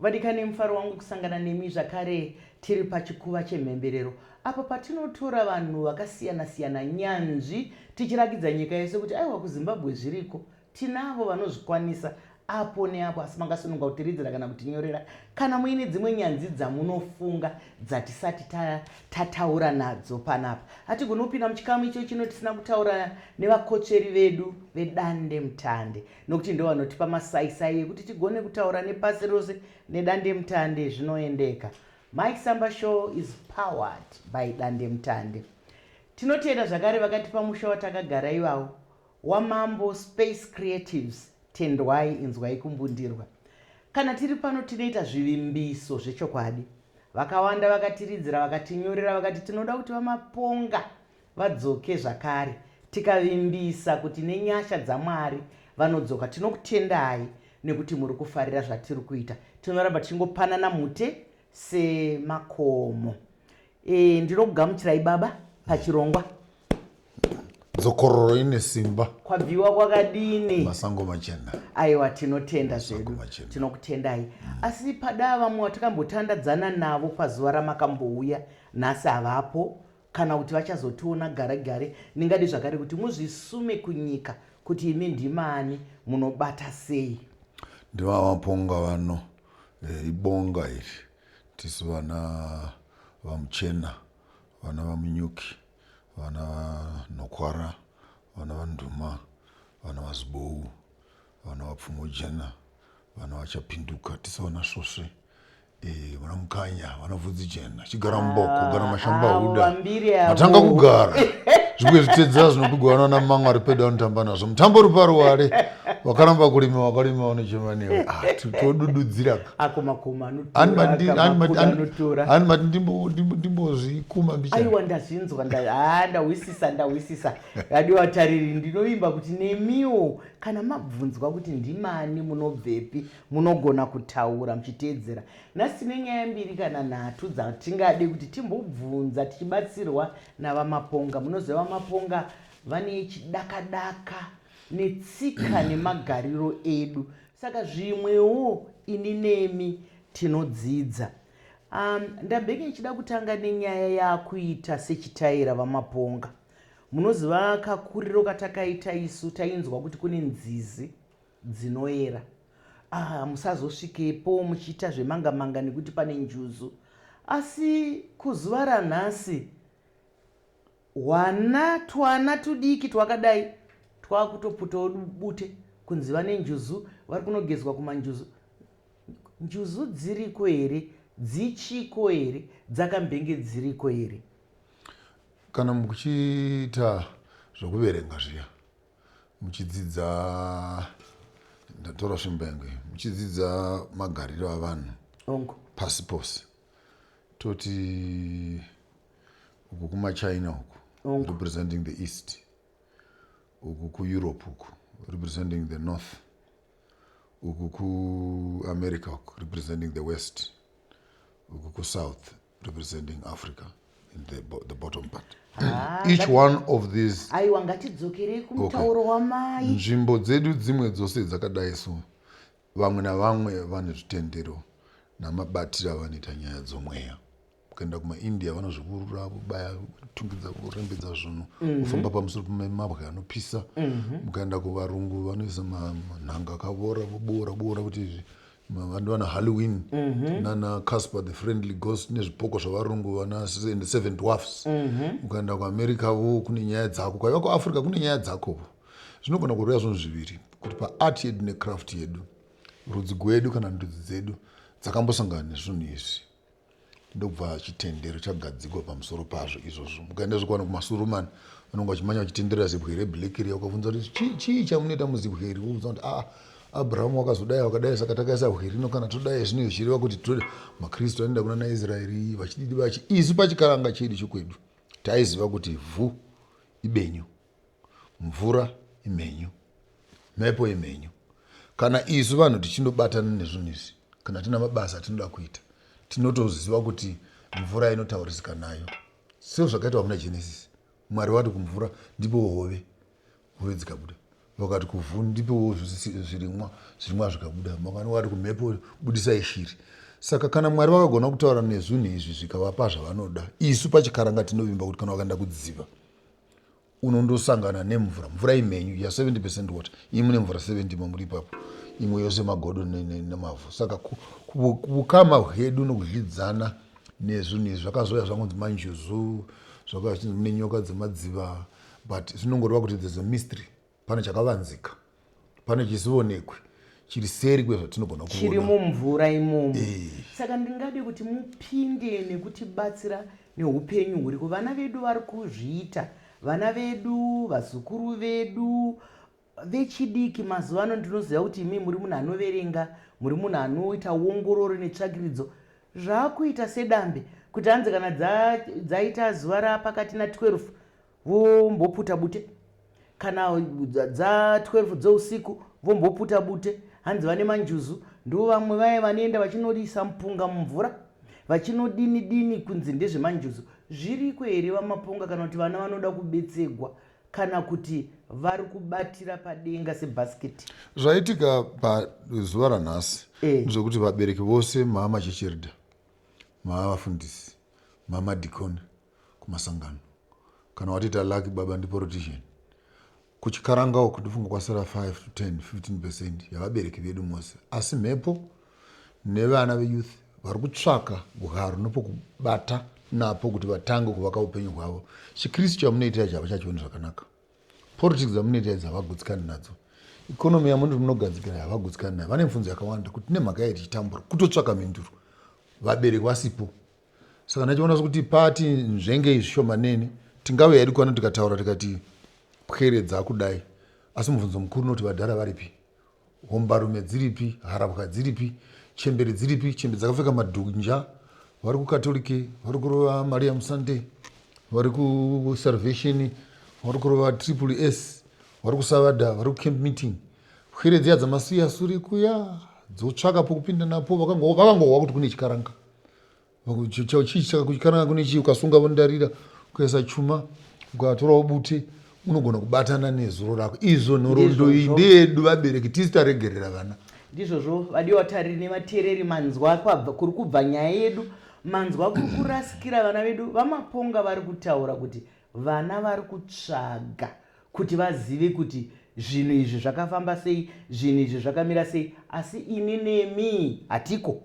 vadikani mufaro wangu kusangana nemi zvakare tiri pachikuva chemhemberero apo patinotora vanhu vakasiyana-siyana nyanzvi tichirakidza nyika yese kuti aiwa kuzimbabwe zviriko tinavo vanozvikwanisa apo neapo asi mangasununga kutiridzira kana kutinyorera kana muine dzimwe nyanzi dzamunofunga dzatisati tataura nadzo panapa hatigoni kupinda muchikamu icho chino tisina kutaura nevakotsveri vedu vedande mutande nokuti ndo vanotipa masaisai ekuti tigone kutaura nepasi rose nedande mutande zvinoendeka mike samba show is powered by dande mutande tinotenda zvakare vakatipa musha watakagara ivawo WaMambo Space Creatives Tendwai Inzwai Kumbundirwa. Kana tiri pano tinoita zvivimbiso zvechokwadi. Vakawanda vakatiridzira vakatinyorera vakati tinoda kuti VaMaponga vadzoke zvakare. Tikavimbisa kuti nenyasha dzaMwari vanodzoka tinokutendai nekuti muri kufarira zvatiri kuita. Tinoramba tichingopanana mhute semakomo. E, ndinokugamuchirai baba pachirongwa dzokororo ine simba kwabviwa kwakadini masango machena aiwa tinotenda zvedu tinokutendai mm. asi padaa vamwe vatakambotandadzana navo pazuva ramakambouya nhasi havapo kana kuti vachazotiona gare gare ndingadi zvakare kuti muzvisume kunyika kuti imi ndimani munobata sei ndivavaponga vano eh, ibonga iri tisu vana vamuchena vana vamunyuki vana vanhokwara vana vanduma vana vazibou vana vapfumojena vana vachapinduka tisa vana svosve eh, vana mukanya vana vhudzi jena chigara mboko gara ah, mashambahuda matanga kugara zvimwe zvitedza zvinopigwa vana na manga ari pedo anotamba nazvo mutambo uri paruware wakaramba kurima wakarima unechema newe ah, todududzira akomakomaanotoraanimati ndimbozvikuma mbichaiwa ndazvinzwa haa ndahwisisa ndahwisisa radio vatariri ndinovimba kuti nemiwo kana mabvunzwa kuti ndimani munobvepi munogona kutaura muchiteedzera nhasi nenyaya mbiri kana nhatu dzatingade kuti timbobvunza tichibatsirwa navamaponga munoziva vamaponga vane chidakadaka daka. netsika nemagariro edu saka zvimwewo ini nemi tinodzidza um, ndambenge ndichida kutanga nenyaya yakuita sechitaira vamaponga munoziva kakuriro katakaita isu tainzwa kuti kune nzizi dzinoera ah, musazosvikepo muchiita zvemanga manga nekuti pane njuzu asi kuzuva ranhasi Hwana twana tudiki twakadai twakutoputawo bute kunzi vane njuzu vari kunogezwa kumanjuzu. Njuzu dziriko here? Dzichiko here? Dzakambenge dziriko here? Kana muchiita zvokuverenga zviya muchidzidza ndatora svimbo yangu iyi muchidzidza magariro avanhu Ongo. pasi pose toti uku kumachina uku Ongo. representing the east uku kueurope uku representing the north uku kuamerica uku representing the west uku kusouth representing africa in the, bo the bottom part Ah, each ngati- one of these aiwa ngatidzokerei kumutauro wamai nzvimbo dzedu dzimwe dzose dzakadai so vamwe navamwe vane zvitendero namabatiro avanoita nyaya dzomweya ukaenda kumaindia vanozvikurura vobaya tungidza vorembedza zvinhu mhm. vofamba mm -hmm. pamusoro pemabwe anopisa mm -hmm. ukaenda kuvarungu vanoisa manhanga akavora voboora boora kuti izvi vandu vana halloween mm -hmm. nana casper the friendly ghost nezvipoko zvavarungu vana the seven dwarfs mm -hmm. ukaenda kuamerica vo kune nyaya dzako kwaiva kuafrica kune nyaya dzako zvinogona kureva zvinhu zviviri kuti paart yedu necraft yedu rudzi gwedu kana ndudzi dzedu dzakambosangana nezvinhu izvi ndokubva chitendero chagadzikwa pamusoro pazvo izvozvo mukaenda zvekuwana kumasurumani vanonge vachimanya vachitenderera zibwe reblack riya ukabvunza kuti chii chii chamunoita muzibwe iri wobvunza kuti aa ah, abrahamu wakazodai wakadai saka takaisa bwe rino kana todai zvino zvichireva kuti tode makristu anoenda kuna naisraeri vachididi vachi isu pachikaranga chedu chekwedu taiziva kuti vhu ibenyu Mvura imhenyu, mhepo imhenyu. Kana isu vanhu tichinobatana nezvinhu izvi, kana tine mabasa atinoda kuita, tinotoziva kuti mvura inotaurisika nayo. Seo zvakaitwa muna Genesis, Mwari wati kumvura, ndipewo hove, hove dzikabuda. Vakati kuvhu, ndipewo zvirimwa, zvirimwa zvikabuda. Makani wati kumhepo, budisai shiri. Saka kana Mwari vakagona kutaura nezvinhu izvi zvikavapa zvavanoda, isu pachikaranga tinovimba kuti kana wakaenda kudziva, unondosangana nemvura mvura imhenyu ya 70 percent water iyi mune mvura 70 mamuri ipapo imwe yose magodo nemavhu saka kukama hwedu nokudyidzana nezvo nezvi zvakazouya zvangonzi manjuzu zvakazvinzi mune nyoka dzemadziva but zvinongoreva kuti there's a mystery Pane chakavanzika, pane chisivonekwi chiri seri kwezvatinogona kuona. Chiri mumvura imomo. Eh. Saka ndingade kuti mupinde nekutibatsira neupenyu huriko. Vana vedu vari kuzviita, vana vedu, vazukuru vedu, vechidiki mazuva ano ndinoziva kuti imi muri munhu anoverenga, muri munhu anoita uongororo netsvakiridzo. Zvakuita sedambe kuti hanzi kana dza- dzaita zuva rapakati na 12 vomboputa bute kana dza 12 dzousiku vomboputa bute hanzi vane manjuzu ndivo vamwe vaye vanoenda vachinoisa mupunga mumvura vachinodini dini kunzi ndezvemanjuzu zviriko here vamaponga kana kuti vana vanoda kubetsegwa kana kuti vari kubatira padenga sebhasiketi zvaitika pazuva ranhasi eh. zvokuti vabereki vose mama chechirida mama vafundisi mama dikoni kumasangano kana watoita lucky baba ndi politician kuchikaranga uku ndofunga kwasara 5 to 10 15 percent yavabereki vedu mose asi mhepo nevana veyouth vari kutsvaka bwaro nepokubata napo kuti vatange kuvaka upenyu hwavo chikristu chamunoitira chava chachioni zvakanaka politics dzamunoitira idzi havagutsikani nadzo ikonomi yamuti munogadzikira havagutsikani nayo vane mfunzo yakawanda kuti nemhaka yai tichitambura kutotsvaka mhinduro vabereki vasipo saka ndachiona sekuti pati nzvengei zvishomanene tingauya hedu kwano tikataura tikati pweredza kudai asi mubvunzo mukuru unoti vadhara varipi hombarume dziripi harabwa dziripi chembere dziripi chembe dzakapfeka madhunja vari kukatolike vari kurova maria musunday vari kusalvation vari kurova triple s vari kusavada vari kucamp meeting pwere dziya dzamasiya suri kuya dzotsvaka pokupinda napo vakangohwa kuti kune chikaranga chii saka kukananga kune chii ukasunga vondarira ukaisa chuma ukatorawo bute unogona kubatana nezuro rako izvo nhorondo iyi ndeyedu vabereki tisi taregerera vana ndizvozvo vadiwa vatariri nevateereri manzwa kuri kubva nyaya yedu manzwa kuri kurasikira vana vedu vamaponga vari kutaura kuti vana vari kutsvaga kuti vazive kuti zvinhu izvi zvakafamba sei zvinhu izvi zvakamira sei asi ini nemi hatiko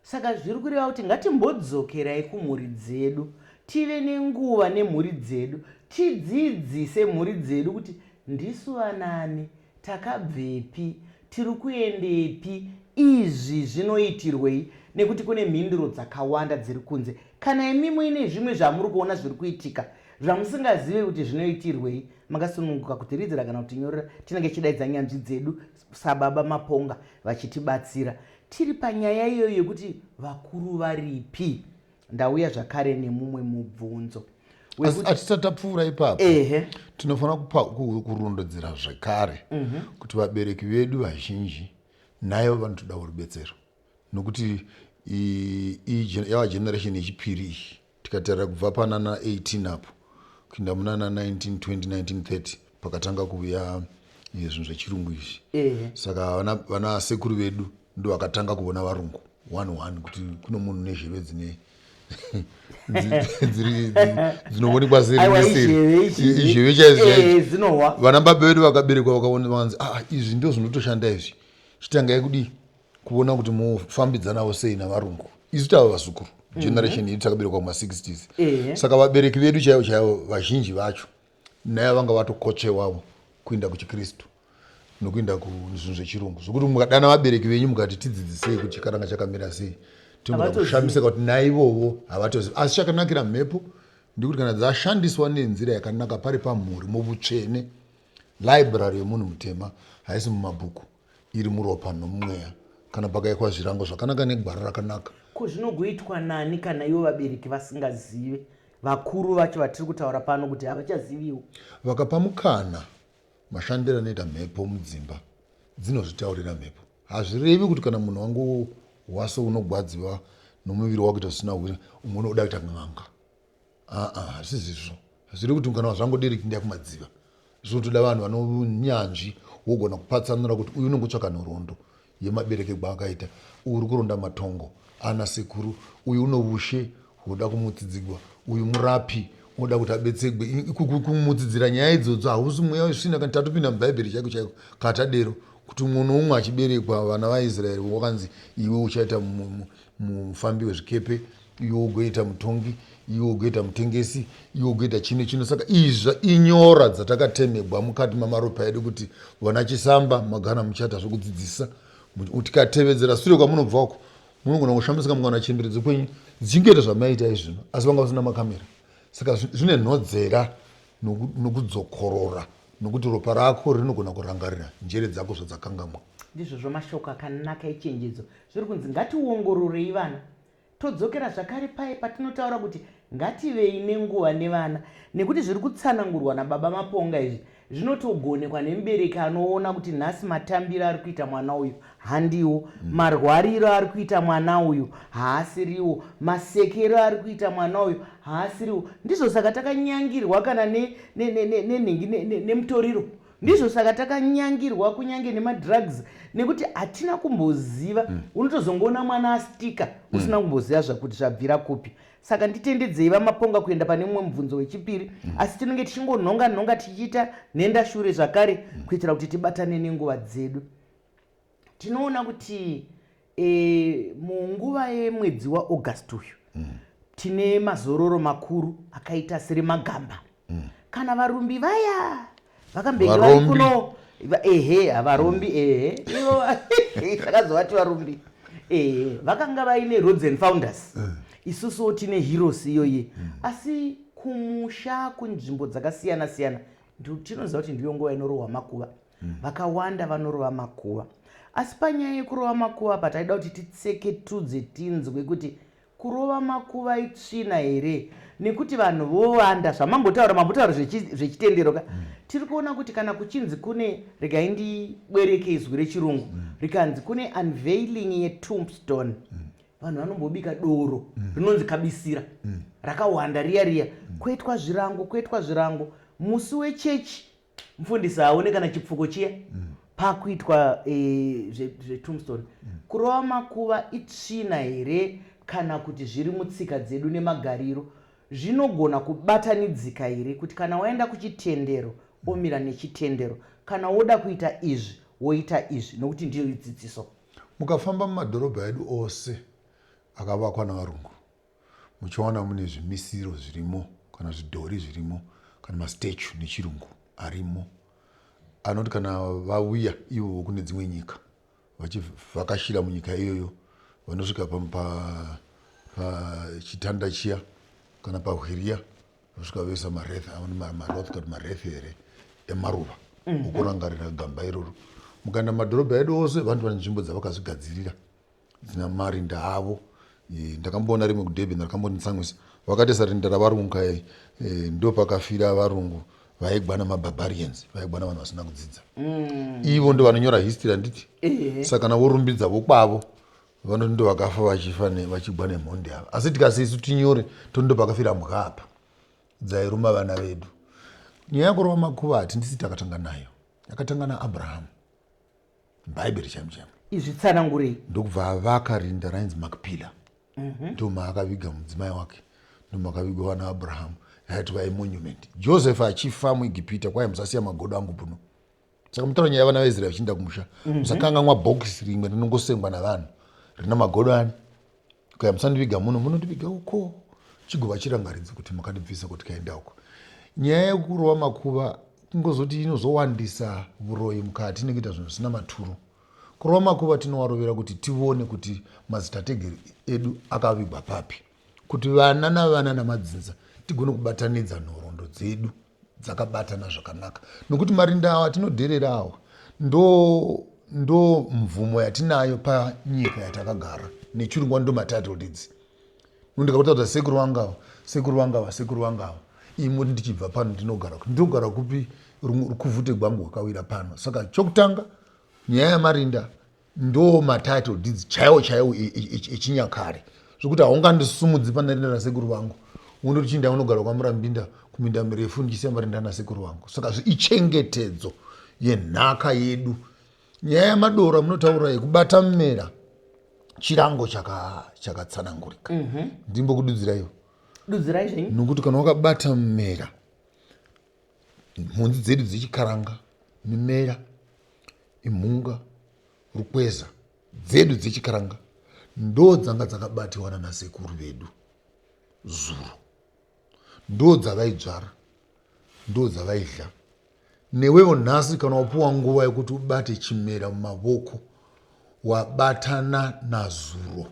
Saka zviri kureva kuti ngatimbodzokerai kumhuri dzedu, tive nenguva nemhuri dzedu, tidzidzise mhuri dzedu kuti ndisu vanani, takabvepi, tiri kuendepi, izvi zvinoitirwei nekuti kune mhinduro dzakawanda dziri kunze. Kana imi muine zvimwe zvamuri kuona zviri kuitika zvamusingazive kuti zvinoitirwei, makasununguka kutiritira kana kutinyorera, tinenge tichidaidza nyanzvi dzedu sababa Maponga vachitibatsira tiri panyaya iyoyo yekuti vakuru varipi. Ndauya zvakare nemumwe mubvunzo hatisati tapfuura ipapo tinofanira kurondedzera zvekare mhm. kuti vabereki vedu vazhinji nayo vanotodawo rubetsero nokuti yava generation yechipiri iyi Tikatarira kubva panana 18 apo kuinda munana 1920 1930 pakatanga kuuya eh, zvinhu zvechirungu izvi saka vana, vana sekuru vedu ndovakatanga kuona varungu one one kuti kuno munhu nezheve dzine dzinoonekwa seizheve chaizvozvinowa vana baba vedu vakaberekwa vakaona vanzi ah, izvi ndo zvinotoshanda izvi chitangai kudii kuona kuti mofambidzanawo sei navarungu isu tava vazukuru mhm. generation yedu takaberekwa kuma 60s saka vabereki vedu chaivo chaivo vazhinji vacho naye vanga vatokotsvewavo kuenda kuchikristu nokuenda kuzvinhu zvechirungu zvokuti mukadana vabereki venyu mukati tidzidzisei kuti chikaranga chakamira sei tinoda kushamisika kuti naivovo havatozivi asi chakanakira mhepo ndikuti kana dzashandiswa nenzira yakanaka pari pamhuri muvutsvene library yemunhu mutema haisi mumabhuku iri muropa nomumweya kana pakaikwa zvirango zvakanaka negwara rakanaka. Ko zvinogoitwa nani kana ivo vabereki vasingazive, vakuru vacho vatiri kutaura pano kuti havachaziviwo? Vakapa mukana, mashandiro anoita mhepo mudzimba dzinozvitaurira mhepo. Hazvirevi kuti kana munhu wangohwa seunogwadziwa nomuviri wakuita zvisina hwere, umwe unoda kuita n'anga. Aa hazvisi izvo hazvidi kuti kana zvangu diri kuenda kumadziva zvinotoda vanhu vane unyanzvi wogona kupatsanura kuti uyu unenge utsvaka nhoroondo yemabereke kwaakaita uyu uri kuronda matongo ana sekuru uyu une ushe hwoda kumutsidzigwa uyu murapi unoda kuti abetsegwe kumutsidzira nyaya idzodzo hausi mweya wesvina kana tatopinda mubhaibheri chaiko chaiko kana tadero kuti umwe noumwe achiberekwa vana vaisraeri wakanzi iwe uchaita mufambi wezvikepe iwe ugoita mutongi iwe ugoita mutengesi iwe ugoita chino chino saka izva inyora dzatakatemegwa mukati mamaropa edu kuti vana chisamba magana muchata zvekudzidzisa tikatevedzera sure kwamunobva uko munogona kushamisika mukana chembere dzekwenyu dzichingoita zvamaiita izvino asi vanga vasina makamera saka zvine nhodzera nokudzokorora nokuti ropa rako rinogona kurangarira njere dzako zvadzakangamwa ndizvozvo mashoko akanaka echenjedzo zviri kunzi ngationgororei vana Todzokera zvakare paye patinotaura kuti ngativei nenguva nevana nekuti zviri kutsanangurwa naBaba Maponga izvi zvinotogonekwa nemubereki anoona kuti nhasi matambiro ari kuita mwana uyu handiwo, mm. marwariro ari kuita mwana uyu haasiriwo, masekero ari kuita mwana uyu haasiriwo. Ndizvo saka takanyangirwa kana nenhingi ne, ne, ne, nemutoriro ndizvo saka takanyangirwa kunyange nemadrugs nekuti hatina kumboziva hmm. unotozongoona mwana astika hmm. usina kumboziva zvakuti zvabvira kupi saka nditendedzei vamaponga kuenda pane mumwe mubvunzo wechipiri hmm. asi tinenge tichingonhonga nhonga tichiita nhenda shure zvakare kuitira kuti tibatane nenguva dzedu tinoona kuti e, munguva yemwedzi waaugust uyu mm. tine mazororo makuru akaita seremagamba mm. kana varumbi vaya vakambenge vari kuno ehe havarombi ehe ivo takazovati varumbi ehe vakanga vaine roads and founders mm. isusuwo tine heroes iyoye mm. asi kumusha kunzvimbo dzakasiyana siyana tinoziva kuti ndiyo nguva inorohwa makuva mm. vakawanda vanorova makuva asi panyaya yekurova makuva apa taida kuti titseketudze tinzwe kuti kurova makuva itsvina here nekuti vanhu vowanda zvamambotaura mambotaura zvechitendero ka mm. tiri kuona kuti kana kuchinzi kune regai ndibwereke izwi rechirungu mm. rikanzi kune unveiling yetombstone mm. vanhu vanombobika doro mm. rinonzi kabisira mm. rakawanda riya riya mm. kwoitwa zvirango kwoitwa zvirango musi wechechi mfundisi haaone kana chipfuko chiya mm. pakuitwa e, eh, zvetombstone mm. kurova makuva itsvina here kana kuti zviri mutsika dzedu nemagariro zvinogona kubatanidzika here kuti kana waenda kuchitendero mm. omira nechitendero kana woda kuita izvi woita izvi nokuti ndiyo idzidziso mukafamba mumadhorobha edu ose akavakwa navarungu muchawana mune zvimisiro zvirimo kana zvidhori zvirimo kana mastatue nechirungu arimo anoti kana vauya ivovo kune dzimwe nyika vachivhakashira munyika iyoyo vanosvika pachitanda chiya kana pahwiriya vasvika vesa marethe aone maroth kana marethe here emaruva mhm. okurangarira gamba iroro mukaenda mumadhorobha edu ose vanhu vane nzvimbo dzavakazvigadzirira dzina marinda havo eh, ndakamboona rimwe kudurban rakambonditsamwisa vakatesa rinda ravarungu kaye eh, ndopakafira varungu vaigwa namabarbarians vaigwa navanhu vasina kudzidza mm. ivo ndo vanonyora history handiti eh. saka kana vorumbidza vokwavo vanoti ndo vakafa vachifa vachigwa nemhondi ava asi tikasi isu tinyore tondo pakafira mbwa apa dzairuma vana vedu nyaya yakurova makuva hati ndisi takatanga nayo yakatanga naabrahamu bhaibheri chaimu chaimu izvi tsanangurei ndokubva avaka rinda rainzi makpila mhm. ndomaakaviga mudzimai wake ndomakavigwa vana abrahamu yaiti vai monument joseph achifa muegipita kwai musasiya magodo angu puno saka mutaura nyaya yavana vaisraeri vachiinda kumusha mhm. musakanganwa bhokisi rimwe rinongosengwa navanhu rina magodo ani Kaya musandiviga muno munondiviga uko chigova chirangaridze kuti makandibvisa kuti kaenda uko nyaya yekurova makuva kungozoti inozowandisa vuroyi mukati nekuita zvinhu zvisina maturo kurova makuva tinowarovera kuti tione kuti mazitategeri edu akavigwa papi kuti vana navana namadzinza tigone kubatanidza nhorondo dzedu dzakabatana zvakanaka nokuti marinda awa atinodherera awa ndo ndo mvumo yatinayo panyika yatakagara nechirungu ndo matitle deeds ndikakutaudza sekuru vangawa sekuru vangawa sekuru vangawa imoti ndichibva pano ndinogara kuti ndinogara kupi rukuvhute gwangu wakawira pano saka chokutanga nyaya yamarinda ndoo matitle deeds chaiwo chaiwo echinyakare zvekuti haungandisumudzi pana rinda rasekuru vangu undoti chinda unogara kwamurambinda kuminda mirefu ndichisiya marinda nasekuru vangu saka zviichengetedzo yenhaka yedu nyaya yamadora munotaura yekubata mmera chirango chakatsanangurika mhm. ndimbokududziraiwo dudzirai zvenyu nokuti kana wakabata mmera mhunzi dzedu dzechikaranga mimera imhunga rukweza dzedu dzechikaranga ndo dzanga dzakabatiwa nanasekuru vedu zuro ndo dzavaidzvara ndo dzavaidya newevo nhasi kana wapuwa nguva yekuti ubate chimera mumavoko wabatana nazuro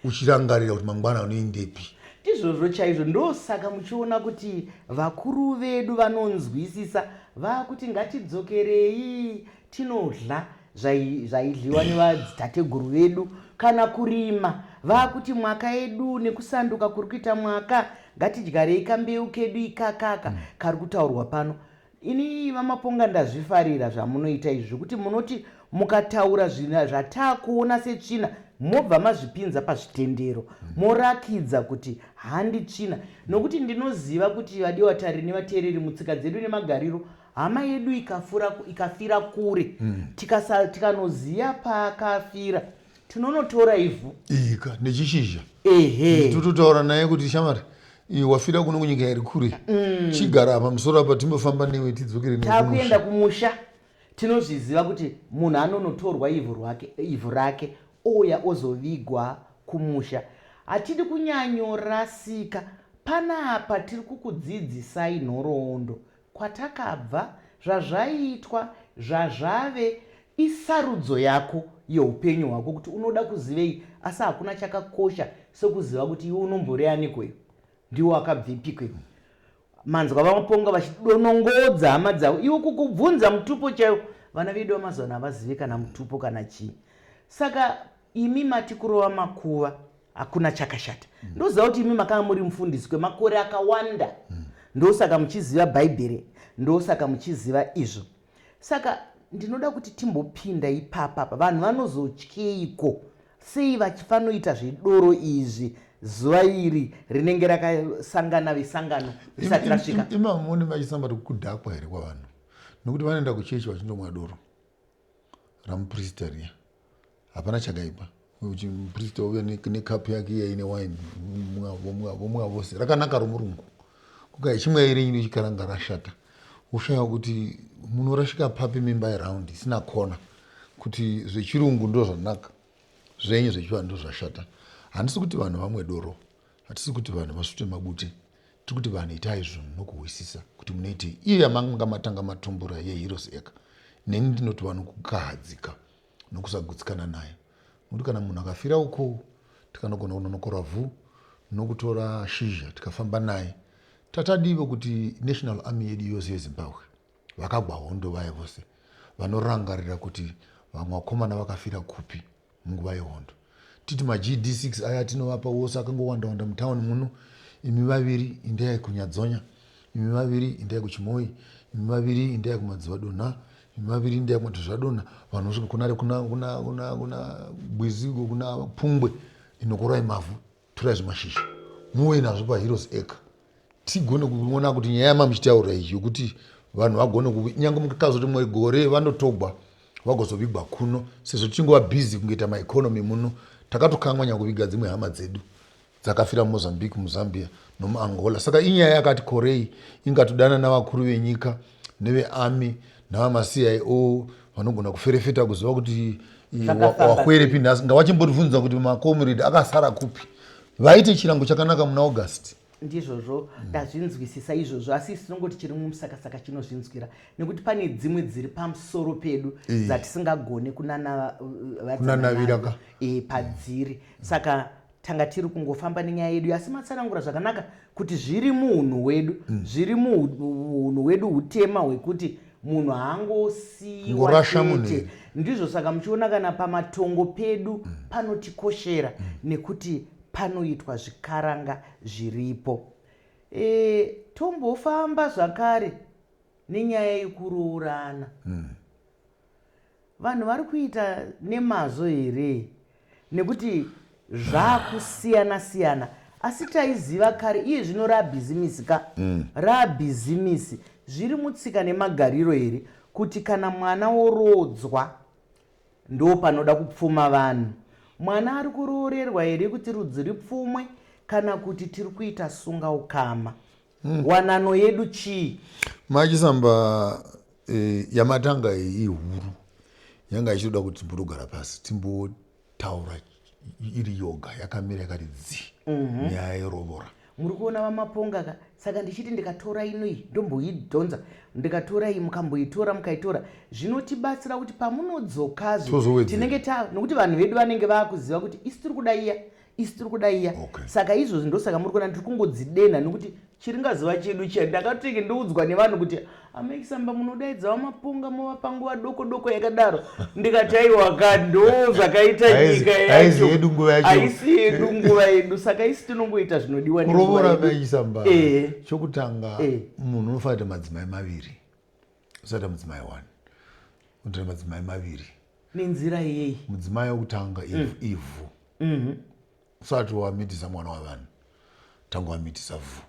uchirangarira kuti mangwana unoendepi. Ndizvozvo chaizvo. Ndosaka muchiona kuti vakuru vedu vanonzwisisa vakuti ngatidzokerei tinodla zvaidliwa nevadzitateguru vedu kana kurima vakuti mwaka yedu nekusanduka kuri kuita mwaka ngatidyarei kambeu kedu ikakaka kari kutaurwa pano Ini vamaponga ndazvifarira zvamunoita izvi zvekuti munoti mukataura zvina zvataakuona setsvina mobva mazvipinza pazvitendero morakidza kuti handi tsvina nokuti ndinoziva kuti vadiwa tari nevateereri mutsika dzedu nemagariro hama yedu ikafira kure mm. tikanoziva paakafira tinonotora ivhu ika nechishizha ehe tototaura naye kuti shamari iyi wafira kuno kunyika iri kure mm. chigara apa musoro apa timbofamba newe tidzokere takuenda kumusha tinozviziva kuti munhu anonotorwa ivhu rwake ivhu rake ouya ozovigwa kumusha hatidi kunyanyorasika panapa tiri kukudzidzisai nhoroondo kwatakabva, zvazvaiitwa, zvazvave, isarudzo yako yeupenyu hwako kuti unoda kuzivei asi hakuna chakakosha sekuziva kuti iwe unombori aniko iwe? Ndiwe wakabvepiko iwe? Manzwa VaMaponga vachidonongodza hama dzavo. Iwe kukubvunza mutupo chaiwo. Vana vedu vamazuva ano havazive kana mutupo kana chii. Saka imi mati kurova makuva hakuna chakashata mm. ndoziva kuti imi makanga muri mufundisi kwemakore akawanda mm. ndosaka muchiziva bhaibheri ndosaka muchiziva izvo saka ndinoda kuti timbopinda ipapa pa vanhu vanozotyeiko sei vachifanoita zvedoro izvi zuva iri rinenge rakasangana vesangano risati rasvika imamoni vachisamba kuti kudhakwa here kwavanhu nokuti vanoenda kuchechi vachindomwa doro ramuprista riya hapana chakaipa kuti muprista uve nekapu ne yake iya ine wine vomwa vose rakanaka romurungu kuka ichimwa iri nyini chikaranga rashata ushaya kuti munorashika papi mimba yeround isina kona kuti zvechirungu ndo zvanaka zvenyu zvechivanhu ndo zvashata handisi kuti vanhu vamwe doro hatisi kuti vanhu vasvute mabute Tiri kuti vanhu itai zvinhu nokuhwisisa kuti munoitei. Iyo yamanga matanga matumbura yeHeroes Acre neni ndinoti vanhu kukahadzika nokusagutsikana nayo nokuti kana munhu akafira ukoo tikanogona kunonokora vhu nokutora shizha tikafamba naye. Tatadivo kuti National Army yedu yose yeZimbabwe Vakagwa hondo vaye vose vanorangarira kuti vamwe vakomana vakafira kupi munguva yehondo. Titi maGD6 aya atinovapa wose akangowanda-wanda mutown muno, imi vaviri indai kuNyadzonya, imi vaviri indai kuChimoyi, imi vaviri indai kuMadzivadonha, imi vaviri indai kuMatuzvadonha, vanhu vosvika kuna, kuna, kuna, kuna, kuna Bwizi, kuna Pungwe, inokorai mavhu, torai zvimashizha muuye nazvo paheroes acre tigone kuona kuti nyaya yamamuchitaura iyi yokuti vanhu vagone kunyange mukutaudza kuti mwe gore vanotogwa vagozovigwa kuno sezvo tichingova busy kungoita maeconomy muno takatokanwa nyakuviga dzimwe hama dzedu dzakafira mumozambique muzambia nomuangola saka inyaya yakati korei ingatodana navakuru venyika nevearmy navamaCIO vanogona kuferefeta kuziva kuti wakwerepi nhasi ngavachimbotibvunza kuti macomrade akasara kupi vaite chirango chakanaka muna august ndizvozvo ndazvinzwisisa mm. izvozvo asi isi tinongoti chiri mumusakasaka chinozvinzwira nekuti pane dzimwe dziri pamusoro pedu dzatisingagone kunanaviraka e, padziri saka Tanga tiri kungofamba nenyaya yedu asi matsanangura zvakanaka kuti zviri muhunhu hwedu mm. zviri muhunhu hwedu hutema hwekuti munhu haangosiiwa chete ndizvo saka muchiona kana pamatongo pedu mm. panotikoshera mm. nekuti panoitwa zvikaranga zviripo e, tombofamba zvakare nenyaya yekuroorana mm. Vanhu vari kuita nemazvo here nekuti zvakusiyana siyana asi taiziva kare iye zvino rabhizimisi ka mm. rabhizimisi zviri mutsika nemagariro here kuti kana mwana woroodzwa ndo panoda kupfuma vanhu mwana ari kuroorerwa here kuti rudzi ripfumwe kana kuti tiri kuita sunga ukama hmm. wanano yedu chii machisamba eh, yamatanga iyi ihuru yanga ichitoda kuti timbotogara pasi timbotaura iri yoga yakamira yakati dzi mhm. nyaya yerovora muri kuona vamaponga ka saka ndichiti ndikatora inoi ndomboidhonza ndikatora iyi mukamboitora mukaitora zvinotibatsira kuti pamunodzokazvo tinenge ta nokuti vanhu vedu vanenge vaakuziva kuti isi tiri kuda iya isu tiri kuda iya okay. saka izvozvi ndosaka muri kuona ndiri kungodzidenha nekuti chiringaziva chedu chiya ndakatenge ndoudzwa nevanhu kuti amaisamba munodaidzawo mapunga mova panguva doko doko yakadaro ndikati aiwaka ndo zvakaita nyika yacho haisi yedu nguva yedu saka isi tinongoita zvinodiwa kurovora maisamba eh. chokutanga eh. munhu unofanira kuita madzimai maviri usati mudzimai one unotoita madzimai maviri nenzira yei mudzimai wekutanga mm. ivhu mm -hmm. usati wamitisa mwana wavanhu tanga wamitisa vhu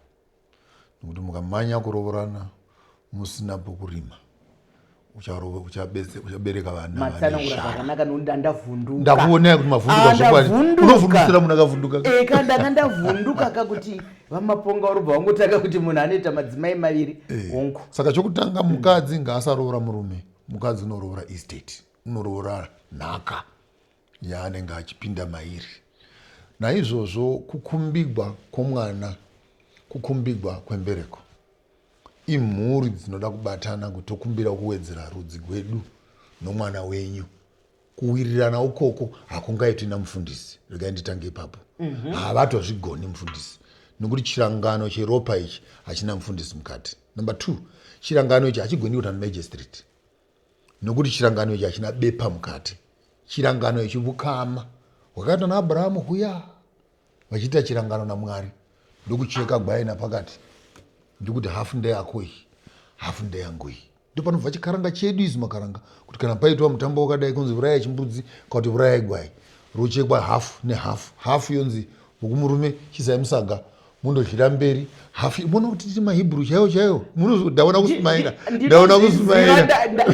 nekuti mukamanya kurovorana musina pokurima uchabereka vanamatsananguraakanaka nokuti andavhundukandakuvonea kuti mavhundukazvokwaunofundisira munhu akavhunduka eka ndanga ndavhunduka ka kuti vamaponga urobva wangotanga kuti munhu anoita madzimai maviri hongu eh. saka chokutanga mukadzi ngaasaroora murume mm. Mukadzi unoroora estate, unoroora nhaka yaanenge achipinda mairi. Naizvozvo kukumbigwa kwomwana, kukumbigwa kwembereko, imhuri dzinoda kubatana kuti tokumbira kuwedzera rudzi gwedu nomwana wenyu kuwirirana ukoko hakungaitwi namufundisi regai nditange ipapo mhm. havatozvigoni mm -hmm. mufundisi nokuti chirangano cheropa ichi hachina mufundisi mukati number two chirangano ichi hachigoni kuita nemagistrate nokuti chirangano ichi hachina bepa mukati chirangano ichi vukama hwakaita naabrahamu huya vachiita chirangano namwari ndokucheka gwai napakati ndikuti hafu ndeyako iyi hafu ndeyangu iyi ndopanobva chikaranga chedu izi makaranga kuti kana paitwa mutambo wakadai kunzi vurayai chimbudzi kakuti vurayai gwai rochekwa hafu nehafu hafu yonzi mukumurume chisai musaga mundozvira mberi hafu mona kuti titi mahebrew chaiwo chaiwo ndaona kusumaira ndaona kusumaira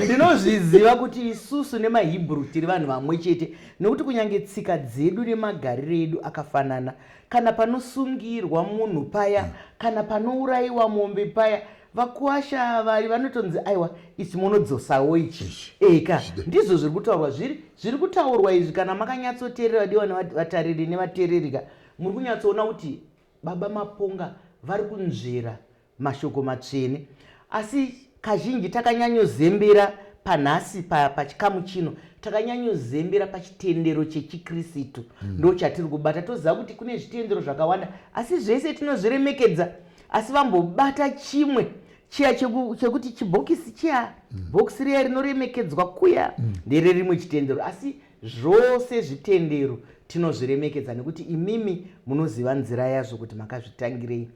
ndinozviziva kuti isusu nemahebrew tiri vanhu vamwe chete Nokuti kunyange tsika dzedu nemagariro edu akafanana, kana panosungirwa munhu paya, kana panourayiwa mombe paya, vakuwasha ava vanotonzi aiwa ichi monodzosawo ichi. Eka, ndizvo zviri kutaurwa zviri, zviri kutaurwa izvi kana makanyatsoteerera vadiwa nevat, vatariri nevateereri ka, muri kunyatsoona kuti Baba Maponga vari kunzvera mashoko matsvene asi kazhinji takanyanyozembera panhasi pachikamu chino takanyanyozembera pachitendero chechikristu mm. ndo chatiri kubata toziva kuti kune zvitendero zvakawanda asi zvese tinozviremekedza asi vambobata chimwe chiya chekuti chibhokisi chiya mm. bhokisi riya rinoremekedzwa kuya mm. ndere rimwe chitendero asi zvose zvitendero tinozviremekedza nekuti imimi munoziva nzira yazvo kuti makazvitangirei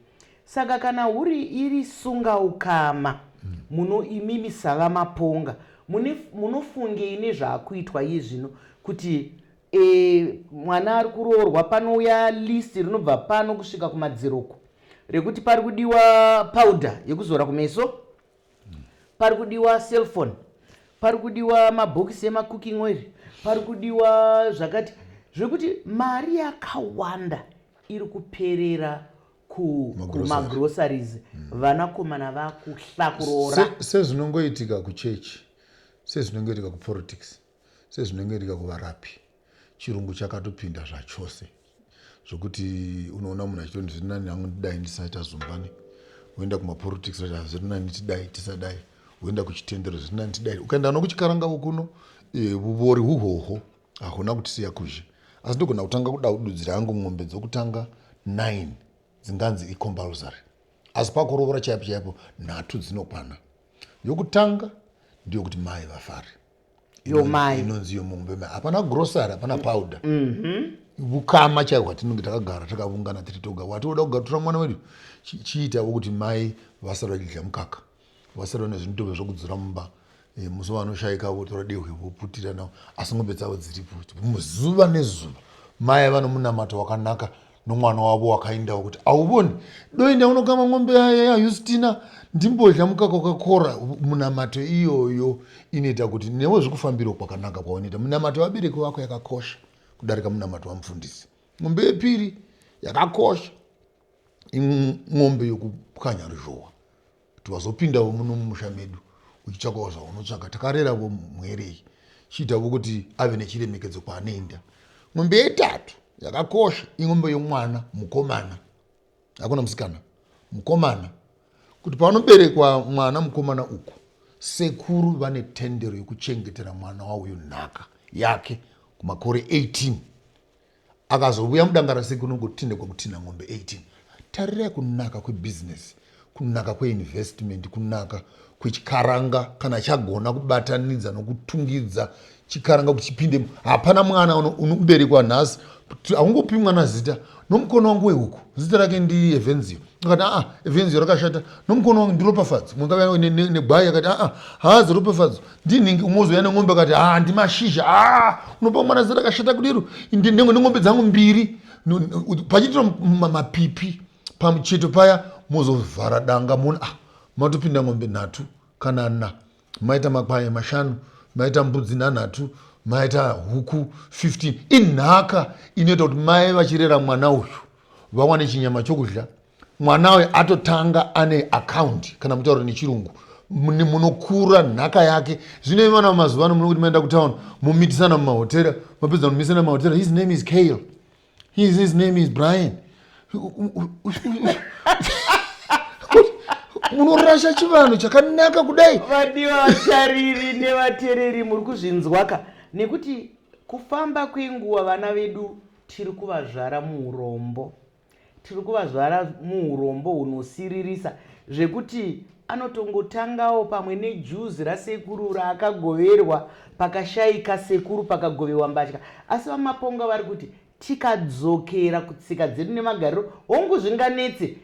Saka kana huri iri sunga ukama muno imimi sava maponga mune munofungei nezvakuitwa iye zvino kuti e, mwana ari kuroorwa panouya list rinobva pano kusvika kumadziro uko rekuti pari kudiwa powder yekuzora kumeso pari kudiwa cellphone pari kudiwa mabhokisi emacooking oil pari kudiwa zvakati zvekuti mari yakawanda iri kuperera kumagroceries mm. vanakomana vakuhla kuroora sezvinongoitika kuchechi sezvinongoitika kupolitics sezvinongoitika kuvarapi chirungu chakatopinda zvachose zvokuti unoona munhu achitoni zviri nani hangu ndidai ndisaita zumbani woenda kumapolitics zvaa zviri nani tidai tisadai woenda kuchitendero zviri nani tidai ukaenda nokuchikarangavo kuno eh, vuvori huhoho Ahuna kutisiya kuzhe asi ndogona kutanga kudadudzira hangu mombe dzokutanga 9 dzinganzi icompulsory asi pakuroora chaipo chaipo nhatu dzinokwana. Yokutanga ndiyo kuti mai vafare yomai inonzi yomombe mai hapana grocery hapana powder vukama chaiho hwatinenge takagara takavungana tiri toga hwatinoda kugatura mwana wedu chi- chiitavo kuti mai vasare vachidya mukaka Wasara nezvinitove zvokudzura mumba eh, musi vanoshaika votora dehwe voputira navo asi ngombe dzavo dziripo zuva nezuva mai ava nomunamato wakanaka nomwana wavo wakaindawo kuti auvoni doinda unokama ngombe yayustina ndimbodya mukaka wakakora munamato iyoyo inoita kuti newe zvekufambiro kwakanaka kwaunoita munamato vabereki vako yakakosha kudarika munamato wamufundisi ngombe yepiri yakakosha imombe yokupwanya ruzhowa kuti vazopindawo muno mumusha medu uchitsvakawo zvaunotsvaka takareravo mwerei chiitavo kuti ave nechiremekedzo kwaanoenda mombe yetatu yakakosha imombe yomwana mukomana hakuna musikana mukomana kuti panoberekwa mwana mukomana uku sekuru vane tendero yekuchengetera mwana wauyo nhaka yake kumakore 18 Akazovuya mudanga rase kunongotinha kwakutinha ng'ombe 18. Tarirai kunaka kwebusiness, kunaka kweinvestment, kunaka kwechikaranga kana chagona kubatanidza nokutungidza chikaranga kuti chipinde. Hapana mwana unoberekwa nhasi haungopi mwana zita nomukono wangu wehuku zita rake ndi evenzio akati aa evenzio rakashata nomukono wangu ndiropafadzo negwai akati aa haazi ropafadzo ndinhingi umozouya neng'ombe kati ha ah, ndimashizha a ah, unopa mwana zera kashata kudero neng'ombe dzangu mbiri pachiitira mapipi pamucheto paya mozovhara danga mona ah, matopinda ng'ombe nhatu kana na maita makwaye mashanu maita mbudzi nhanhatu maita huku 15 inhaka inoita kuti mai vachirera mwana uyu vawane chinyama chokudya mwana uyu atotanga ane akaunti kana mutaura nechirungu munokura nhaka yake zvine vana vamazuva ano munokuti maenda kutown momitisana mumahotera mapedza kumitisana mumahotera his name is kale his, his name is brian munorasha chivanhu chakanaka kudai vadiwa vatariri nevatereri muri kuzvinzwaka nekuti kufamba kwenguva vana vedu Tiri kuvazvara muurombo. Tiri kuvazvara muurombo hunosiririsa zvekuti anotongotangawo pamwe nejuzi rasekuru raakagoverwa pakashaika sekuru pakagovewa mbatya. Asi VaMaponga vari kuti tikadzokera kutsika dzedu nemagariro, hongu zvinganetse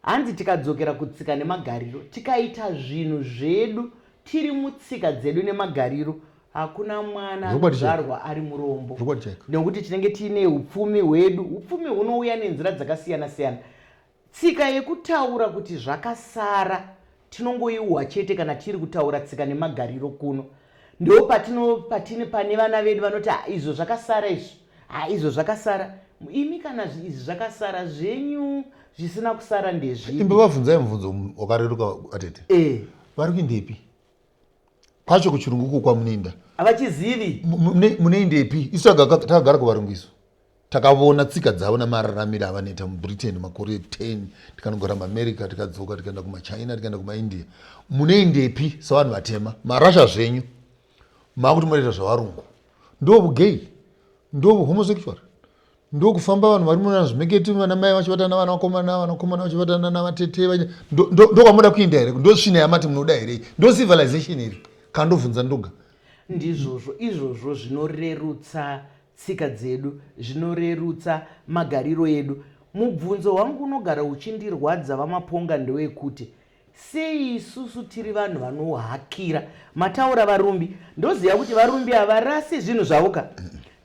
Hanzi tikadzokera kutsika nemagariro tikaita zvinhu zvedu tiri mutsika dzedu nemagariro hakuna mwana anozvarwa ari murombo nekuti tinenge tiine upfumi hwedu upfumi hunouya nenzira dzakasiyana siyana tsika yekutaura kuti zvakasara Tinongoiuha chete kana tiri kutaura tsika nemagariro kuno. Ndoo patino patine pane vana vedu vanoti ha izvo zvakasara izvo. Ha izvo zvakasara. Imi kana izvi zvakasara zvenyu zvisina kusara ndezvipi? Imba vabvunzai mubvunzo wakareruka atete. Eh. Vari kuindepi? Kwacho kuchirungu uko kwamunoinda. Havachizivi. Munoindepi? Isu takagara kuvarungu isu. Takavona tsika dzavo namararamiro avanoita muBritain makore 10 tikanogara muAmerica tikadzoka tikaenda kumaChina tikaenda kumaIndia. Munoendepi savanhu vatema? Marasha zvenyu makuti munoita zvavarungu. Ndovugay, ndovuhomosexual, ndokufamba vanhu vari muna zvimeketi vana mai vachivatana navana vakomana, vanakomana vachivatana navatete vanya ndokwamoda kuenda here? Ndosvina yamati munoda here? Ndocivilization here? Kandovunza ndoga. Ndizvozvo izvozvo zvinorerutsa Tsika dzedu zvinorerutsa magariro edu. Mubvunzo wangu unogara uchindirwadza VaMaponga ndewekuti sei isusu tiri vanhu vanohakira. Mataura varumbi ndoziva kuti varumbi havarasi zvinhu zvavo ka.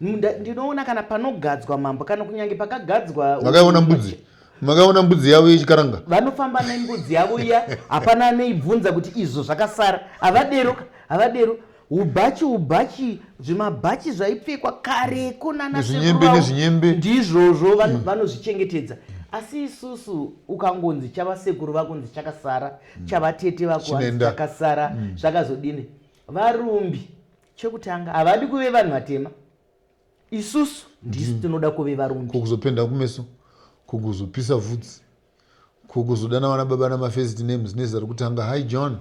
Ndinoona kana panogadzwa mambo kana kunyange pakagadzwa. Makaona mbudzi makaona mbudzi yavo yechikaranga vanofamba nembudzi yavo iya hapana anoibvunza kuti izvo zvakasara havadero havadero Ubhachi ubhachi zvimabhachi zvaipfekwa kareko nana Zvinyembe sekuru nezvinyembe. vavo ndizvozvo vano- vanozvichengetedza asi isusu ukangonzi chavasekuru vakunzi chakasara chavatete vako vanzi Chinoenda. chakasara zvakazodini varumbi chekutanga havadi kuve vanhu vatema isusu ndisu tinoda kuve varumbi Ko kuzopenda kumeso ko kuzopisa vhudzi Ko kuzodana vana baba nama first names nezita rokutanga hi John.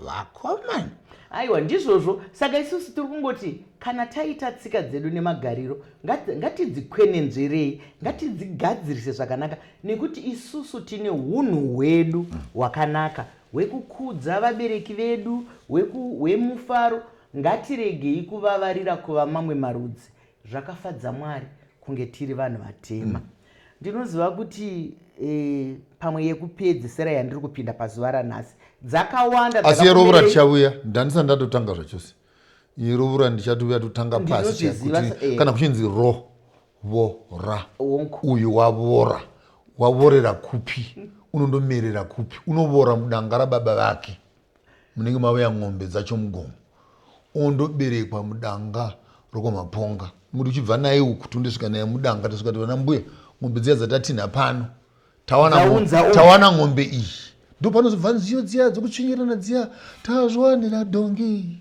Vakomana. Aiwa ndizvozvo saka isusu tiri kungoti kana taita tsika dzedu nemagariro ngat- ngatidzikwenenzverei ngatidzigadzirise zvakanaka nekuti isusu tine hunhu hwedu hwakanaka hwekukudza vabereki vedu hweku- hwemufaro ngatiregei kuvavarira kuva mamwe marudzi zvakafadza mwari kunge tiri vanhu vatema Ndinoziva kuti eh, pamwe yekupedzisira yandiri kupinda pazuva ranhasi dzakawanda asi yerovora tichauya ndanisa ndatotanga zvachose yerovora ndichatuuya totanga pasi eh. kana kuchinzi ro vora uyu wavora wavorera kupi unondomerera kupi unovora mudanga rababa vake Munenge mavaya ng'ombe dzacho mugomo ondoberekwa mudanga rokwamaponga muti uchibva naye uku tondosvika naye mudanga tosvika ti vana mbuya ng'ombe dziya dzatatinha pano tawana ng'ombe iyi ndopanozobva nziyo dziya dzokutsvinyirana dziya tazviwanira dhongi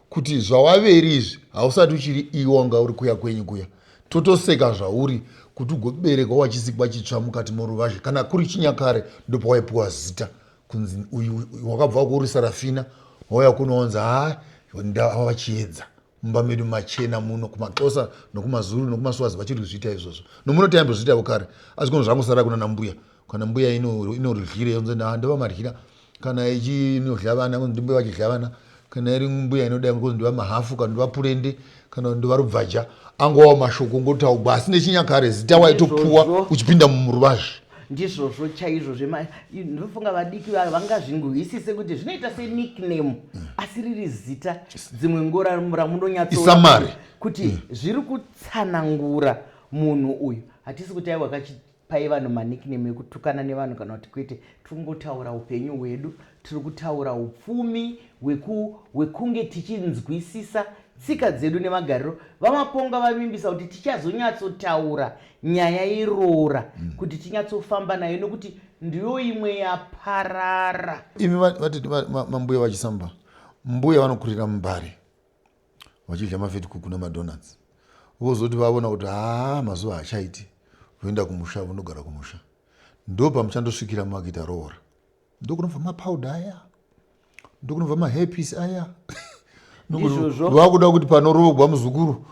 kuti zvawaveri izvi hausati uchiri iwe wanga uri kuya kwenyu kuya totoseka zvauri kuti ugoberekwa wachisikwa chitsva mukati moruvazhe kana kuri chinyakare ndopawaipiwa zita kunzi uyu wakabva kuuri sarafina wauya kunoonzi haa ndava vachiedza mumba medu machena muno kumaxosa nokumazulu nokumaswazi vachiri kuzviita izvozvo nomuno taimbozviitavo kare asi kuno zvangosara kuna nambuya kana mbuya inoryira yonzi ndiva maryira kana ichinodya vana konzi ndimbuya vachidya vana kana iri mbuya inodai konzi ndiva mahafu kana ndiva purende kana ndiva rubvaja angovawo mashoko ngotaugwa asi nechinyakare zita waitopuwa uchipinda muruvazhe ndizvozvo chaizvo zvndofunga vadiki vavo vangazvingohisise kuti zvinoita senickname mm. asi riri zita dzimwe ngora ramunonyatsoisamari kuti mm. zviri kutsanangura munhu uyu hatisi kuti aiwa kachiti Pai vanhu manickname ekutukana nevanhu kana kuti kwete. Tikungotaura upenyu hwedu, tiri kutaura upfumi hwekunge tichinzwisisa tsika dzedu nemagariro. VaMaponga vavimbisa kuti tichazonyatsotaura nyaya yeroora mm. kuti tinyatsofamba nayo nekuti ndiyo imwe yaparara. Imi vati mambuya vachisamba, mbuya vanokurira mumbare. vachidya mafetikuku nemadonuts vozoti vaona kuti haa mazuva haachaiti voenda kumusha vonogara kumusha ndopamuchandosvikira makuita roora ndokunobva mapowder aya ndokunobva mahairpiece aya vakuda kuti panorogwa muzukuru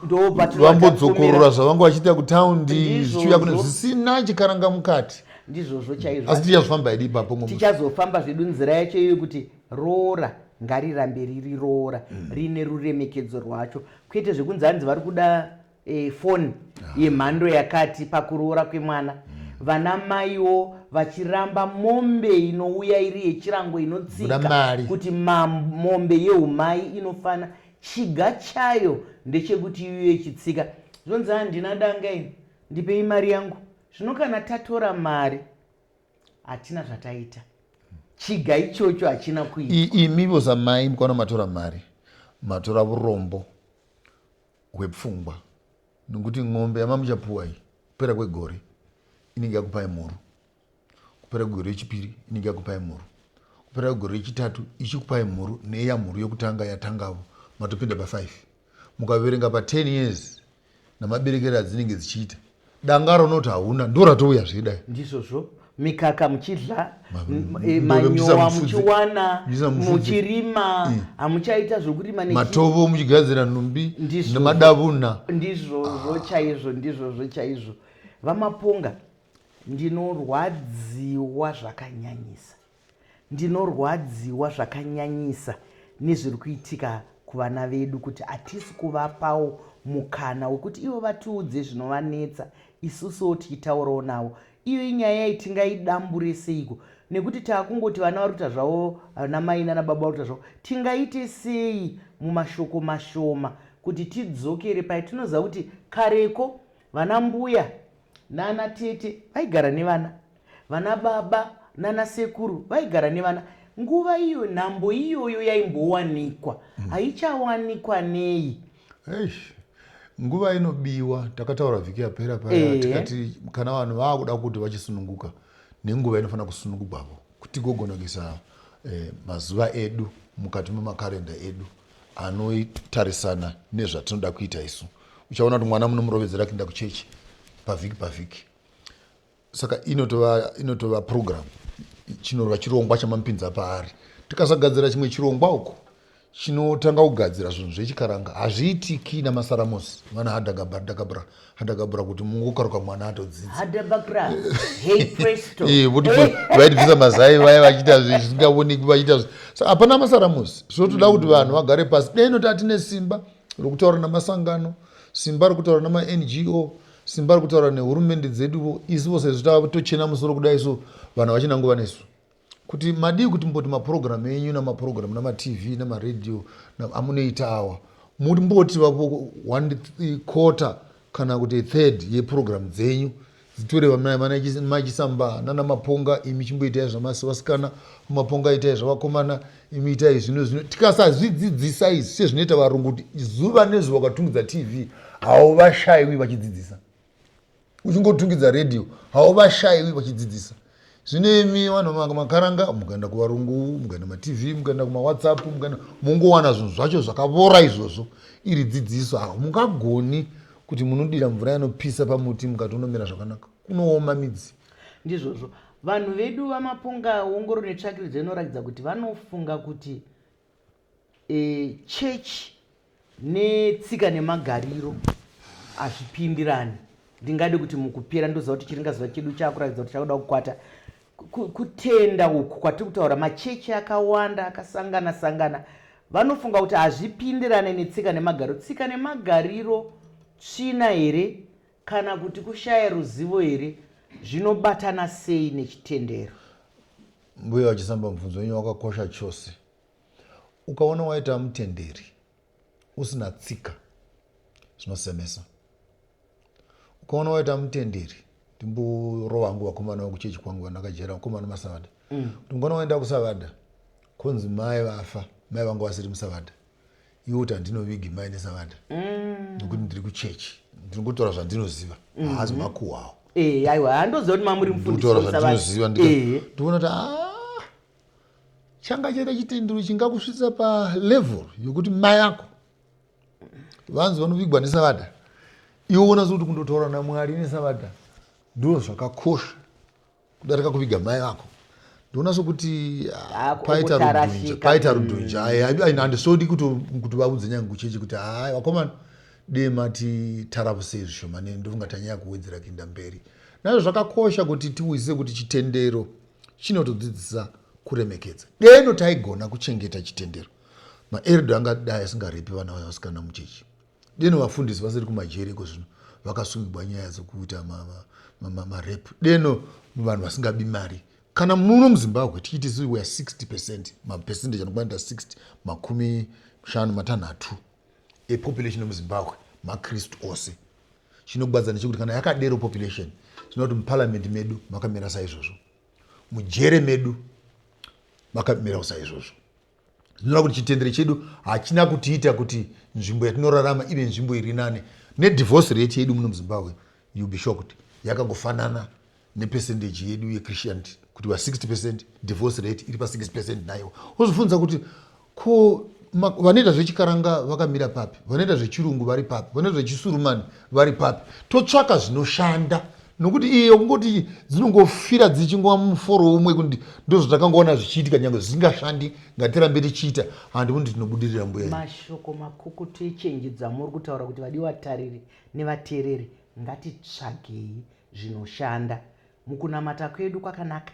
vambodzokorora zvavanga vachiita kutown zvichiuya kune zvisina chikaranga mukati ndizvozvo chaizvo asi tichazofamba idi ipapo tichazofamba zvedu nzira yacho iyoyo kuti Roora ngarirambe riri roora riine ruremekedzo rwacho kwete zvekunzi hanzi vari kuda e, foni yemhando yakati pakuroora kwemwana vana maiwo vachiramba mombe inouya iri yechirango Buda inotsika mari. kuti ma- mombe yeumai inofana chiga chayo ndechekuti iuye ichitsika zvonzi handina danga ini ndipei mari yangu zvino kana tatora mari hatina zvataita chiga ichocho hachina kuitwa imi vose amai mukwana matora mari matora vurombo hwepfungwa nokuti n'ombe yamamuchapuwa iyi kupera kwegore inenge yakupai mhuru kupera kwegore rechipiri inenge yakupai mhuru kupera kwegore rechitatu ichikupai mhuru neya mhuru yokutanga yatangavo matopinda pafive mukaverenga pa 10 years namaberekere adzinenge dzichiita danga raunoti hauna ndo ratouya zvedai ndizvozvo mikaka muchidla eh, manyowa muchiwana muchirima mm. hamuchaita zvokurima matovo muchigadzira nhumbi nemadavuna ndizvozvo chaizvo ndizvozvo chaizvo vamaponga ndinorwadziwa zvakanyanyisa Ndinorwadziwa zvakanyanyisa nezviri kuitika kuvana vedu kuti hatisi kuvapawo mukana wekuti ivo vatiudze zvinovanetsa isusuwo tichitaurawo navo. Iyo inyaya yai tingaidambure seiko nekuti takungoti vana vari kuita zvavo vana mai nana baba vari kuita zvavo. Tingaite sei mumashoko mashoma kuti tidzokere paye tinoziva kuti kareko vana mbuya nana tete vaigara nevana Vana baba nana sekuru vaigara nevana nguva iyo nhambo iyoyo yaimbowanikwa mm. haichawanikwa nei Eish. nguva inobiwa takataura vhiki yapera paya e. tikati kana vanhu vakuda kuti vachisununguka nenguva inofanira kusunungugwavo kuti gogonakisa eh, mazuva edu mukati memakarenda edu anotarisana nezvatinoda kuita isu uchaona kuti mwana munomurovedzera kuenda kuchechi pavhiki pavhiki saka inotova inotova program chinorwa chirongwa chamamupinza paari tikasagadzira chimwe chirongwa uko chinotanga kugadzira zvinhu zvechikaranga hazviitiki namasaramosi vana hadagabra hadagabra hadagabra kuti mungokaruka mwana atodzidzavaiti eh, vaitibvisa mazai vaya vachiita zvisingaoneki vachiita sa hapana masaramosi so toda kuti vanhu vagare pasi dai noti atine simba rokutaura namasangano simba rokutaura namango Simba ari kutaura nehurumende dzedu vo isu vo sezvo tatochena musoro kudai so vanhu havachina nguva nesu kuti madii kuti mboti mapurogiramu enyu namapurogiramu namatv namaradio amunoita awa mumboti vapo one quarter kana kuti third yepurogiramu dzenyu dzitore vamachisa mba nana maponga imi chimboitai zvamasi vasikana maponga itai zvavakomana imi itai zvino zvino tikasazvidzidzisa izvi sezvinoita varungu kuti zuva nezuva ukatungidza tv hauvashaiwi vachidzidzisa uchingotungidza radio hauvashaiwi vachidzidzisa zvino imi vanhu vanga makaranga mukaenda kuvarungu mukaenda matv mukaenda kumawhatsapp mukaenda mungowana zvinhu zvacho zvakavora izvozvo iri dzidziso ha mungagoni kuti munodira mvura yanopisa pamuti mukatonomera zvakanaka kunooma midzi Ndizvozvo. Vanhu vedu vamapunga ongororo netsvakiridzo inorakidza kuti vanofunga kuti e, chechi netsika nemagariro hazvipindirani ndingade kuti mukupera ndoziva kuti chiringa zuva chedu chakuratidza kuti chakuda kukwata kutenda uku kwatiri kutaura machechi akawanda akasangana sangana vanofunga kuti hazvipindirane netsika nemagariro tsika nemagariro tsvina here Kana kuti kushaya ruzivo here zvinobatana sei nechitendero? Mbuya vachisamba mubvunzo wenyu wakakosha chose. Ukaona waita mutenderi usina tsika zvinosemesa. Ukaona waita mutenderi ndimborova hangu vakomana vakuchechi kwangu vandakajera vakomana masavada. Mm. Kuti mukona waenda kusavada konzi mai vafa mai vangu vasiri musavada. iwe kuti handinovigi mai nesavanda mm. nokuti ndiri kuchechi ndinongotaura zvandinoziva mm. haazi makuhwawo eh, aiwa handoziva kuti mamuri mufundisitaura zvandinoziva eh. ndikuona kuti ah, changa chaita chitendero chingakusvitsa palevel yokuti mai ako vanzi vanovigwa nesavada iwe unazi kuti kundotaura namwari nesavada ndoo zvakakosha kudarika kuviga mai vako ndoona sokuti ah, paita rudhunja paita rudhunja mm. handisodi kuti vaudze nyange kucheche kuti hai vakomana dee mati taravusei zvishoma neni ndofunga tanyaya kuwedzera kuinda mberi nazvo zvakakosha kuti tiwise kuti chitendero chinotodzidzisa kuremekedza deno taigona kuchengeta chitendero maerdo angadai asingarepi vana vaya vasikana muchechi Deno vafundisi vasiri kumajeri iko zvino vakasungigwa nyaya dzekuita marep deno vanhu vasingabi mari kana muno muzimbabwe tichiti sisi weare 60 percent mapercentage anokwanita 60 makumi shanu matanhatu epopulation yemuzimbabwe makristu ose chinogwadza ndechekuti kana yakadero population tinoda kuti muparliament medu makamira saizvozvo mujere medu makamirawo saizvozvo Zvinoda kuti chitendere chedu hachina kutiita kuti nzvimbo yatinorarama ive nzvimbo iri nane. Nedivorce rate yedu muno muZimbabwe, you'll be shocked, yakangofanana nepercentage yedu yeChristianity kuti va 60 percent divorce rate iri pa 6 percent naiwo wozofunza kuti ko vanoita zvechikaranga vakamira papi vanoita zvechirungu vari papi vanoita zvechisurumani vari papi totsvaka zvinoshanda nokuti iyo kungoti dzinongofira dzichingova muforo umwe kuti ndozvatakangoona zvichiitika nyange zvisingashandi ngatirambe tichiita handi kuti tinobudirira mbuya mashoko makukutu echenji dzamuri kutaura kuti vadi vatariri nevateereri ngatitsvagei zvinoshanda mukunamata kwedu kwakanaka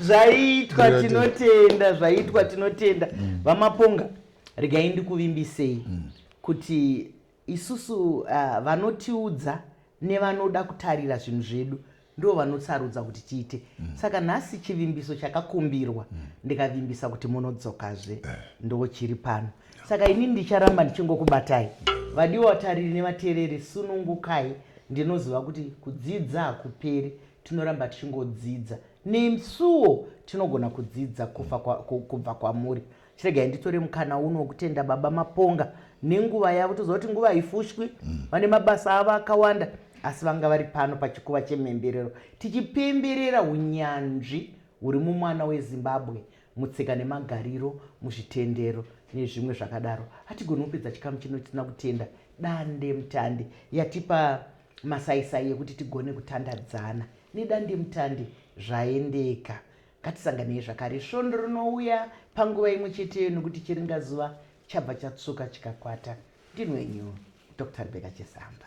zvaitwa tinotenda zvaitwa tinotenda mm. vamaponga regai ndikuvimbisei mm. kuti Isusu vanotiudza nevanoda kutarira zvinhu zvedu ndivo vanotsarudza kuti tiite mm. saka nhasi chivimbiso chakakumbirwa mm. ndikavimbisa kuti munodzokazve eh. ndo chiri pano saka ini ndicharamba ndichingokubatai vadiwa vatariri nevateereri sunungukai ndinoziva kuti kudzidza hakuperi tinoramba tichingodzidza nesuwo tinogona kudzidza kubva kwamuri chiregai nditore mukana uno wekutenda baba maponga nenguva yavo toziva kuti nguva haifushwi mm. vane mabasa avo akawanda asi vanga vari pano pachikuva chemhemberero tichipemberera unyanzvi huri mumwana wezimbabwe mutsika nemagariro muzvitendero nezvimwe zvakadaro hatigoni kupedza chikamu chino tisina kutenda dande mutande yatipa masaisai yekuti tigone kutandadzana nedande mutande zvaendeka Ngatisanganei zvakare svondo rinouya panguva imwe cheteyo nokuti chiringazuva chabva chatsvuka chikakwata. Ndini wenyu Doctor Rebecca Chesamba.